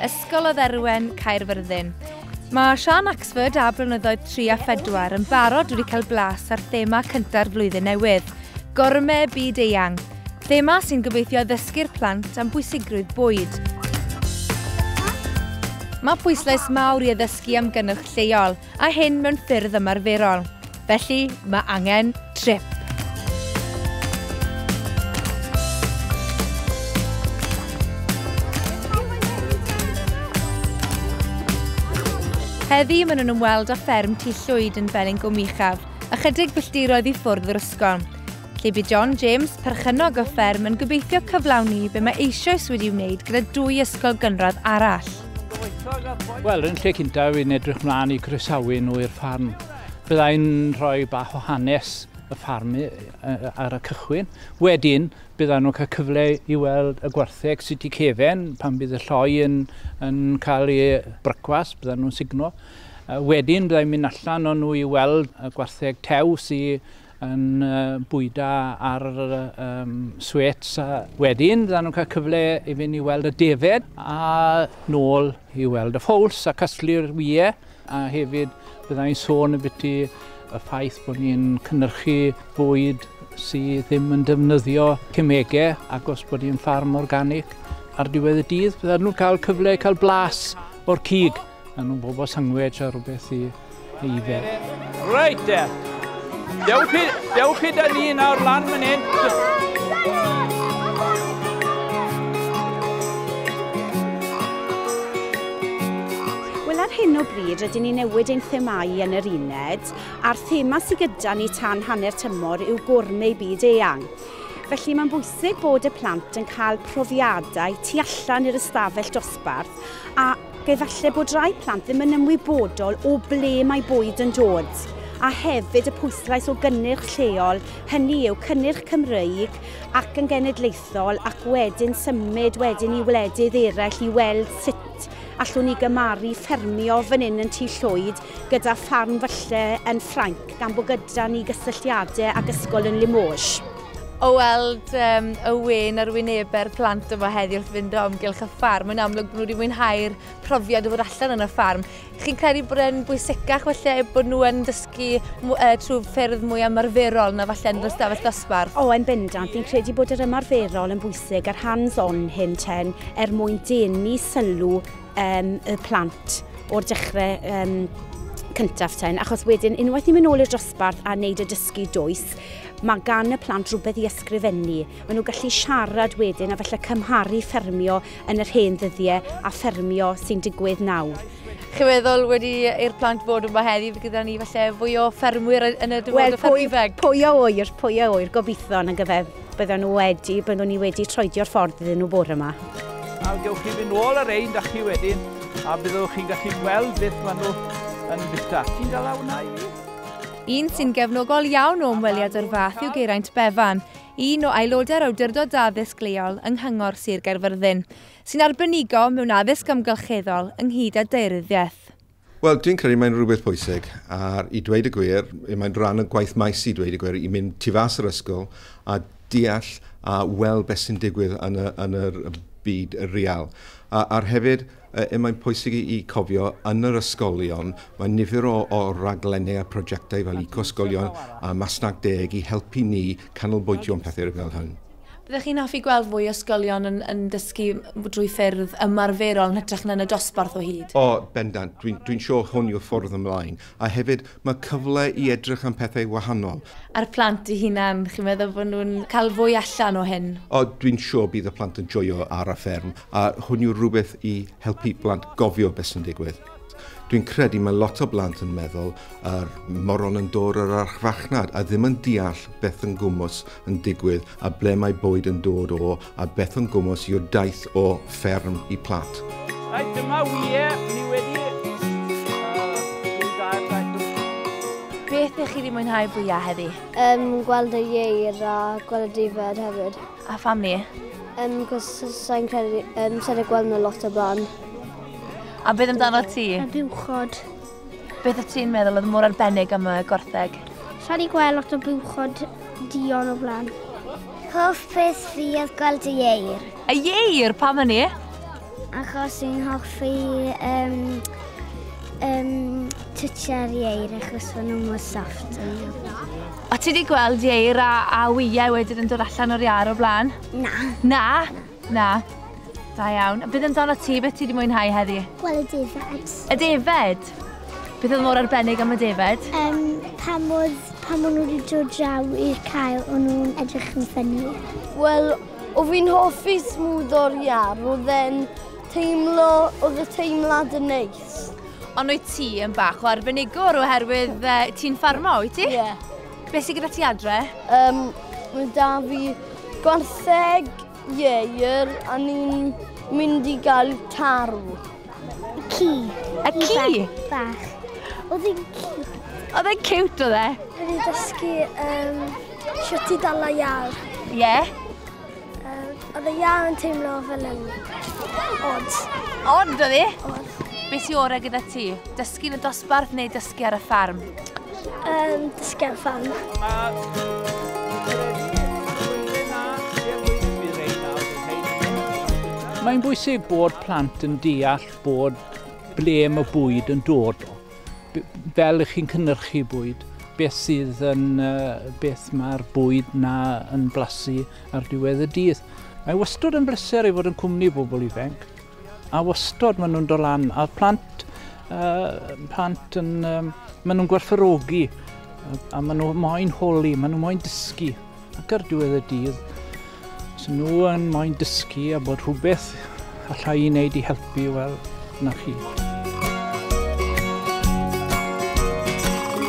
Ysgol o Dderwen, Caerfyrddin. Mae Sian Axford a Blynyddoedd 3 a 4 yn barod wedi cael blas ar thema cynta'r flwyddyn newydd, Gorme Byd Eang, thema sy'n gobeithio ddysgu'r plant am bwysigrwydd bwyd. Mae pwyslais mawr i addysgu am gynnwch lleol, a hyn mewn ffyrdd ymarferol. Felly, mae angen trip. Heddi, maen nhw'n ymweld â fferm tu llwyd yn Felin Gwmichaf, ychydig filltiroedd i ffwrdd o'r ysgol. Lle bydd John James, perchennog o fferm, yn gobeithio cyflawni be mae eisoes wedi wneud gyda dwy ysgol gynradd arall. Wel, yn lle cyntaf, fi'n edrych mlaen i croesawu nhw i'r ffarm. Byddai'n rhoi bach o hanes y ffarm ar y cychwyn. Wedyn, byddan nhw'n cael cyfle i weld y gwartheg sydd wedi cefen, pan bydd y lloi yn, yn cael ei brycwas, byddan nhw'n signo. Wedyn, byddai'n mynd allan o'n nhw i weld y gwartheg tew sydd yn bwyda ar um, swets. Wedyn, byddan nhw'n cael cyfle i fynd i weld y defed a nôl i weld y ffowls a casglu'r wyau A hefyd, bydda i'n sôn ambiti y ffaith bod ni'n cynhyrchu bwyd sydd ddim yn defnyddio cemegau ac os bod ni'n ffarm organic ar diwedd y dydd, bydda nhw'n cael cyfle i cael blas o'r cig. A nhw'n bobl sangwedge a rhywbeth i, i fe. Reit de, dewch chi, dewch chi da ni nawr lan fan hyn. Wel ar hyn o bryd rydyn ni'n newid ein themâu yn yr uned, a'r thema sydd gyda ni tan hanner tymor yw Gourmet Byd Eang. Felly mae'n bwysig bod y plant yn cael profiadau tu allan i'r ystafell dosbarth ac efallai bod rhai plant ddim yn ymwybodol o ble mae bwyd yn dod a hefyd y pwyslais o gynnyrch lleol, hynny yw cynnyrch Cymreig ac yn genedlaethol ac wedyn symud wedyn i wledydd eraill i weld sut Allwn ni gymharu ffermio fan hyn yn Tŷ Llwyd gyda ffarm falle yn Ffrainc gan bod gyda ni gysylltiadau ag ysgol yn Limoges. O weld um, y wen ar wynebe'r plant yma heddi wrth fynd o amgylch y ffarm, mae'n amlwg bod nhw wedi mwynhau'r profiad o fod allan yn y ffarm. Chi'n credu bod e'n bwysicach felly bod nhw yn dysgu ysgogi trwy ffyrdd mwy ymarferol na falle yn yr ystafell ddosbarth? O, yn bendant. Fi'n credu bod yr ymarferol yn bwysig, yr hands-on hyn ten, er mwyn denu sylw um, y plant o'r dechrau um, cyntaf ten, achos wedyn unwaith ni'n mynd nôl i'r dosbarth a wneud y dysgu dwys, mae gan y plant rhywbeth i ysgrifennu. Maen nhw gallu siarad wedyn a felly cymharu ffermio yn yr hen ddyddiau a ffermio sy'n digwydd nawr. Chi'n meddwl wedi i'r plant fod yma heddi, fe gyda ni falle fwy o ffermwyr yn y dyfodol well, Ifeg? Pwy o oer, pwy o oer, gobeithio yn y gyfer byddwn nhw wedi, byddwn ni wedi troedio'r ffordd iddyn nhw bore yma. A gewch chi fynd nôl ar ein da chi wedyn, a byddwch chi'n gallu gweld beth maen nhw yn bita. Ti'n dal awna i fi? Un sy'n gefnogol iawn o ymweliad o'r fath yw Geraint Bevan, un o aelodau'r Awdurdod Addysg Leol yng Nghyngor Sir Gaerfyrddin. sy'n arbenigo mewn addysg amgylcheddol ynghyd â daearyddiaeth. Wel, dwi'n credu mae'n rhywbeth pwysig, a i dweud y gwir, mae'n rhan o gwaith maes i dweud y gwir, i mynd tu fas yr ysgol a deall a weld beth sy'n digwydd yn y, yn yr byd real. A, a'r hefyd, y, mae'n pwysig i, i cofio yn yr ysgolion, mae nifer o, o raglenni a prosiectau fel Eco-ysgolion a Masnach Deg i helpu ni canolbwyntio am pethau fel hyn. Byddech chi'n hoffi gweld fwy o ysgolion yn, yn dysgu drwy ffyrdd ymarferol yn hytrach na yn y dosbarth o hyd? O, bendant. Dwi'n, dwi'n siŵr hwn yw'r ffordd ymlaen. A hefyd, mae cyfle i edrych am pethau wahanol. A'r plant eu hunain, chi'n meddwl bod nhw'n cael fwy allan o hyn? O, dwi'n siŵr bydd y plant yn joio ar y fferm, a hwn yw'r rhywbeth i helpu plant gofio beth sy'n digwydd. Dwi'n credu mae lot o blant yn meddwl yr moron yn dod o'r archfarchnad a ddim yn deall beth yn gwmws yn digwydd a ble mae bwyd yn dod o a beth yn gwmws yw'r daith o fferm i plat. Rhaid dyma wyliau ni wedi Beth ych chi wedi mwynhau fwyaf heddi? Um, gweld y ieir a gweld y dyfed hefyd. A pham ni? Yym, cos sa'n credu, um, sa'n ei gweld nhw lot o blaen. A beth amdano ti? A buwchod. Beth y ti'n meddwl oedd mor arbennig am y gortheg? Sa'n ei gweld lot o buwchod dion o blaen. Hoff peth fi oedd gweld y ieir. Y ieir, pam hynny? Achos i'n hoffi um, um, twtio'r ieir achos fod nhw'n mor soft. O ti wedi gweld ieir a, a wyau wedyn yn dod allan o'r iar o blaen? Na. Na? Na. Da iawn. Bydd yn dan o ti, beth ti wedi mwynhau heddi? Wel, y defed. Y defed? Beth oedd mor arbennig am y defed? Um, pan oedd pan maen nhw wedi dod draw i'r cael, o'n nhw'n edrych yn ffynnu. Wel, O fi'n hoffi smwddo'r iâ, roedd e'n teimlo, oedd y teimlad yn neis. Ond wyt ti yn bach o arbenigwr oherwydd uh, ti'n ffarmo, wyt ti? Ie. Yeah. Beth sy'n gyda ti adre? Um, mae da fi gwartheg ieir a ni'n mynd i gael tarw. Ci. A ci? Bach. Oedd hi'n cute. Oedd e'n cute oedd e? Oedd hi'n dysgu um, siwt i dal a iar. Ie. Yeah. Um, oedd y iar yn teimlo fel yn odd. Odd oedd hi? Odd. Beth i orau gyda ti? Dysgu yn y dosbarth neu dysgu dysgu ar y ffarm? Um, dysgu ar y ffarm. Mae'n bwysig bod plant yn deall bod ble mae bwyd yn dod o. Fel ych chi'n cynnyrchu bwyd, beth sydd yn, uh, beth mae'r bwyd na yn blasu ar diwedd y dydd. Mae wastad yn bleser i fod yn cwmni bobl ifanc. A wastod maen nhw'n dod lan, a'r plant, uh, plant yn, um, maen nhw'n gwerthorogi, a maen nhw moyn holi, maen nhw moyn dysgu. Ac ar diwedd y dydd, os nhw yn moyn dysgu a bod rhywbeth allai i wneud i helpu, wel, na chi.